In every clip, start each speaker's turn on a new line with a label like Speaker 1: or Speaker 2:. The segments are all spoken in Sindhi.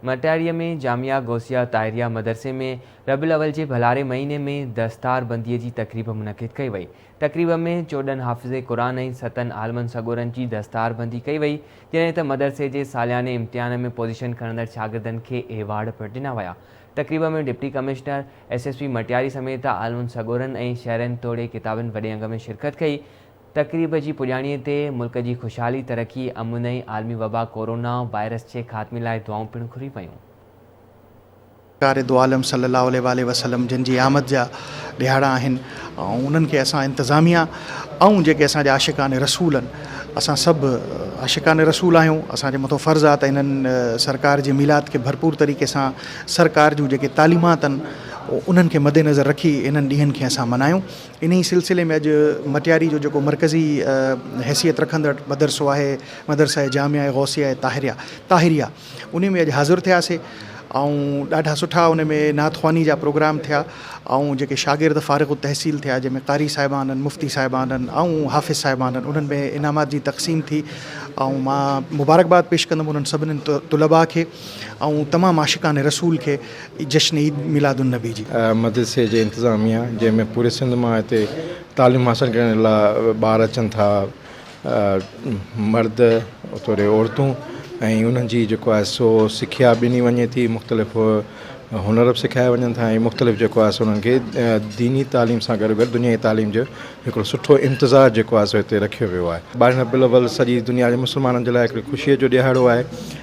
Speaker 1: مٽياريء ۾ جامعه غوثيه طاهريه مدرسي ۾ ربيع الاول جي ڀلاري مهيني ۾ دستار بنديء جي تقريب منعقد ڪئي وئي. تقريب ۾ چوڏهن حافظ قرآن ۽ ستن عالمن سڳورن جي دستار بندي ڪئي وئي، جڏهن ته مدرسي جي سالياني امتحان ۾ پوزيشن کڻندڙ شاگردن کي ايوارڊ پڻ ڏنا ويا. تقريب ۾ deputy commissioner, S S P Matiari سميت عالمن سڳورن ۽ شهرين توڙي ڪتابين وڏي انگ ۾ شرڪت ڪئي. تقريب جي پڄاڻيء تي ملڪ جي خوشحالي، ترقي، امن ۽ عالمي وبا ڪورونا وائرس جي خاتمي لاء دعائون پڻ گهريون ويون.
Speaker 2: سرڪار دوعالم صلي الله عليه واٰله وسلم جن جي آمد جا ڏهاڙا آهن ۽ انهن کي اسان انتظاميا ۽ جيڪي اسان جا عاشقان رسول آهن اسان سڀ عاشقان رسول آهيون اسان جي مٿو فرض آهي ته انهن سرڪار جي ميلاد کي ڀرپور طريقي سان سرڪار جون جيڪي تعليمات آهن انهن کي مدنظر رکي انهن ڏينهن کي اسان ملهايون. انهيء سلسلي ۾ اڄ مٽياري جو جيڪو مرڪزي حيثيت رکندڙ مدرسو آهي مدرسه جامعه غوثيه طاهريه طاهريه انهي ۾ اڄ حاضر ٿياسي ۽ ڏاڍا سٺا ان ۾ نعت خواني جا پروگرام ٿيا ۽ جيڪي شاگرد فارغ التحصيل ٿيا جنهن ۾ قاري صاحبانن مفتي صاحبانن ۽ حافظ صاحبانن انهن ۾ انعامات جي تقسيم ٿي ۽ مان مبارڪباد پيش ڪندم انهن سڀني طلباء کي ۽ تمام عاشقان رسول کي جشن عيد ميلاد النبي جي. مدرسي جي انتظاميه
Speaker 3: جنهن ۾ پوري سنڌ مان هتي تعليم حاصل ڪرڻ لاء ٻار اچن ٿا مرد توڙي عورتون ۽ انهن جي جيڪو آهي سو سکيا ڏني وڃي ٿي مختلف هنر به سکايا وڃن ٿا ۽ مختلف جيڪو آهي سو انهن کي ديني تعليم سان گڏ گڏ دنيائي تعليم جو هڪڙو سٺو انتظار جيڪو آهي سو هتي رکيو ويو آهي ٻارهين ربيع الاول سڄي دنيا جي مسلمانن جي لاء هڪڙي خوشي جو ڏهاڙو آهي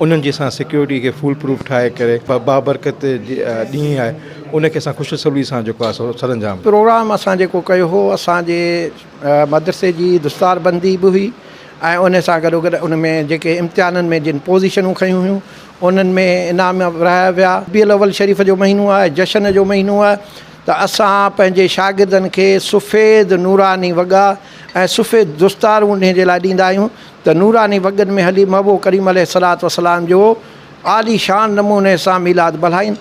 Speaker 3: انهن جي اسان سيڪيورٽي کي فول پروف ٺاهي ڪري بابرڪت ڏينهن آهي ان کي اسان خوش الصولي سان جيڪو آهي سو سرانجام. پروگرام اسان جيڪو
Speaker 4: ڪيو هو اسان جي مدرسي جي دستار بندي به هئي ۽ ان سان گڏو گڏ ان ۾ جيڪي امتحانن ۾ جن پوزيشنون کنيون هيون انهن ۾ انعام به ورهايا ويا. ربيع الاول شريف جو مهينو آهي جشن جو مهينو آهي ته اسان پنهنجي شاگردن کي سفيد نوراني وڳا ۽ سفيد دستار انهي جي لاء ڏيندا آهيون ته نوراني وڳن ۾ هلي محبوب ڪريم عليه الصلوة والسلام جو عالي شان نموني سان ميلاد ملهائين.